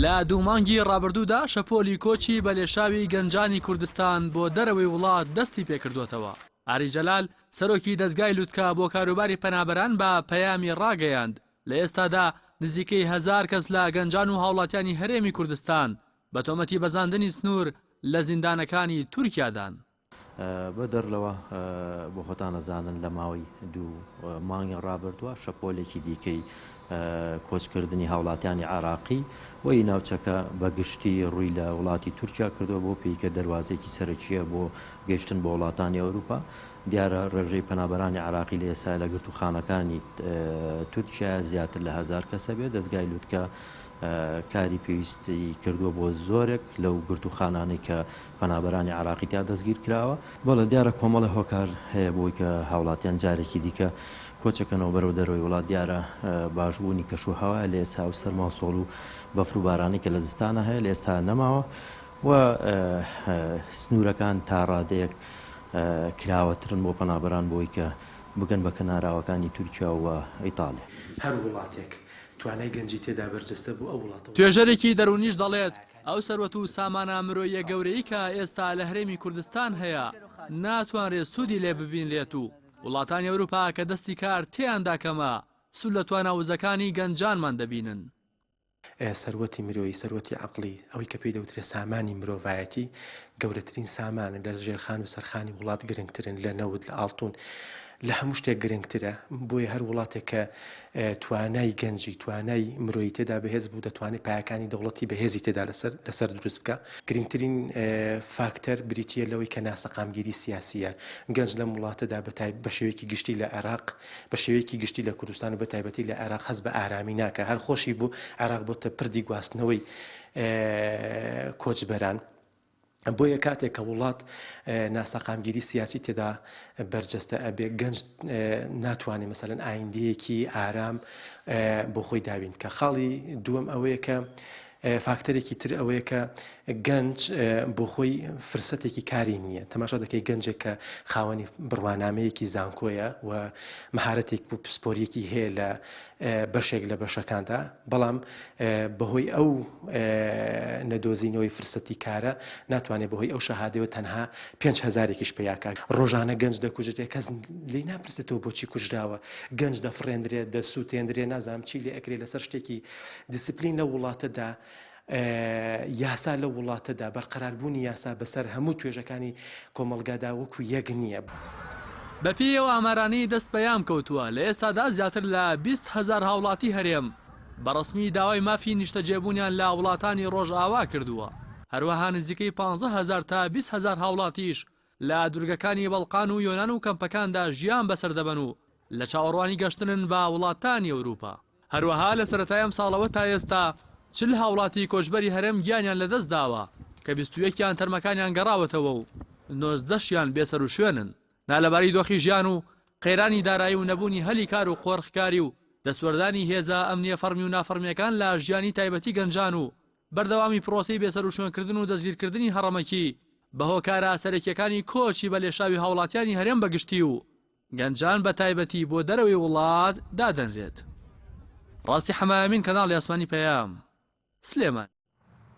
لە دوو مانگی ڕابردوودا شەپۆلی کۆچی بەلێشاوی گەنجانی کوردستان بۆ دەرەوەی وڵات دەستی پێکردووەتەوە. ئاری جەلال، سەرۆکی دەزگای لوتکە بۆ کاروباری پەنابەران بە پەیامی ڕاگەیاند، لە ئێستادا نزیکەی هەزار کەس لە گەنجان و هاوڵاتیانی هەرێمی کوردستان بە تۆمەتی بەزاندنی سنوور لە زیندانەکانی تورکیادان. بەدەر لەوە، بۆ خۆتان ئەزانن لە ماوەی دوو مانگی ڕابردووە شەپۆلێکی دیکەی کۆچکردنی هاوڵاتیانی عێراقی و ی ناوچەکە بە گشتی ڕووی لە وڵاتی تورکیا کردووە بەو پێی کە دەروازەیەکی سەرەکییە بۆ گەیشتن بۆ وڵاتانی ئەوروپا. دیارە ڕێژەی پەنابەرانی عێراقی لە ئێستایا لە گرتووخانەکانی تورکیایا زیاتر لە هەزار کەس هەبێت، دەزگای لوتکە کاری پێویستی کردووە بۆ زۆرێک لەو گرتووخانانەی کە پەنابەرانی عێراقی تیا دەستگیرکراوە. بەڵێ دیارە کۆمەڵێ هۆکار هەیە بۆی کە هاوڵاتیان جارێکی دیکە کۆچەکەنەوە بەرەو دەرەوەی وڵات دیارە باشبوونی کەشو هەوایە لە ئێستا ئەو سەرماو سۆڵو بەفرو بارانەی کە لە زستانا هەیە لە ئێستا نەماوە و سنورەکان تا ڕادەیەک کراوەترن بۆ پەنابەران بۆی کە بگەن بە کەناراوەکانی تورکیا و ئیتاڵیا. هەر وڵاتێک توانای گەنجی تێدا بەرجەستە بوو ئەو وڵاتە وڵاتێکی باشە. توێژەرێکی دەروونیش دەڵێت، ئەو سەروەت و سامانە مرۆییە گەورەی کە ئێستا لە هەرێمی کوردستان هەیە ناتوانرێت سوودی لێ ببینرێت و وڵاتانی ئەوروپا کە دەستی کار تێیاندا کەمە سوود لە توانا وزەکانی گەنجانمان دەبینن. سەروەتی مرۆیی، سەروەتی عەقڵی، ئەوەی کە پێی دەوترێت سامانی مرۆڤایەتی، گەورەترین سامانن لە ژێرخان و سەرخانی وڵات گرنگترن لە نەوت لە ئاڵتون لە هەموو شتێک گرنگترە بۆیە هەر وڵاتێک کە توانای گەنجی توانای مرۆیی تێدا بەهێز بوو دەتوانێت پایەکانی دەوڵەتی بەهێزی تێدا لەسەر لەسەر دروست بکە گرنگترین فاکتەر بریتە لەوەی کە ناسەقامگیری سیاسیە گەنج لەم وڵاتەدا بەتای بە شێوەیەکی گشتی لە عێراق بە شێوەیەکی گشتی لە کوردستان و بە تایبەتی لە عێراق هەز بە ئارامی ناکە هەر خۆشی بوو عێراق بۆتە پردی گواستنەوەی کۆچبەران بۆیە کاتێک کە وڵات ناسەقامگیری سیاسی تێدا بەرجەستە ئەبێ گەنج ناتوانێت مەسەن ئایندەیەکی ئارام بۆ خۆی دابین کە خاڵی دووەم ئەوەیە کە فاکتەرێکی تر ئەوەیە کە گەنج بۆ خۆی فرسەتێکی کاری نییە تەماشا دەکەی گەنجێک کە خاوەنی بڕوانامەیەکی زانکۆیە و مهارەتێک و پسپۆریەکی هەیە لە بەشێک لە بەشەکاندا، بەڵام بەهۆی ئەو نەدۆزینەوەی فرسەتی کارە ناتوانێت بەهۆی ئەو شەهادەوە تەنها پێنج هەزارێکیش پەیاکا. ڕۆژانە گەنج دەکوژرێت کەس لێی ناپرسێتەوە بۆچی کوژراوە، گەنج دەفڕێندرێت، دەسوتێندرێت، نازانم چی لێ ئەکرێت لەسەر شتێکی دیسپلین لەو وڵاتەدا یاسا لەو وڵاتەدا، بەرقەراربوونی یاسا بەسەر هەموو توێژەکانی کۆمەڵگادا وەکو یەک نییە. بەپێی ئەو ئامارانەی دەست پەیام کەوتووە، لە ئێستادا زیاتر لە بیست هەزار هاوڵاتی هەرێم بە ڕەسمی داوای مافی نیشتەجێبوونیان لە وڵاتانی ڕۆژئاوا کردووە، هەروەها نزیکەی پانزە هەزار تا بیست هەزار هاوڵاتیش لە دوورگەکانی بەڵقان و یۆنان و کەمپەکاندا ژیان بەسەر دەبەن و لە چاوەڕوانی گەشتنن بە وڵاتانی ئەوروپا. هەروەها لە سەرەتای ئەمساڵەوە تا ئێستا چل هاوڵاتی کۆچبەری هەرێم گیانیان لەدەستداوە کە بیست و یەک یان تەرمەکانیان گەڕاوەتەوە و نۆزدە شیان بێسەروشوێنن. نالەباری دۆخی ژیان و قەیرانی دارایی و نەبوونی هەلی کار و قۆرخکاری و دەستوەردانی هێزە ئەمنییە فەڕمی و نافەڕمییەکان لە ژیانی تایبەتی گەنجان و بەردەوامی پرۆسەی بێسەروشوێنکردن و دەستگیرکردنی هەڕەمەکی بە هۆکارە سەرەکییەکانی کۆچی بە لێشاوی هاوڵاتیانی هەرێم بە گشتی و گەنجان بە تایبەتی بۆ دەرەوەی وڵات دادەنرێت. ڕاستی حەمایەمین کەناڵی ئاسمانی پەیام. سلێمانی.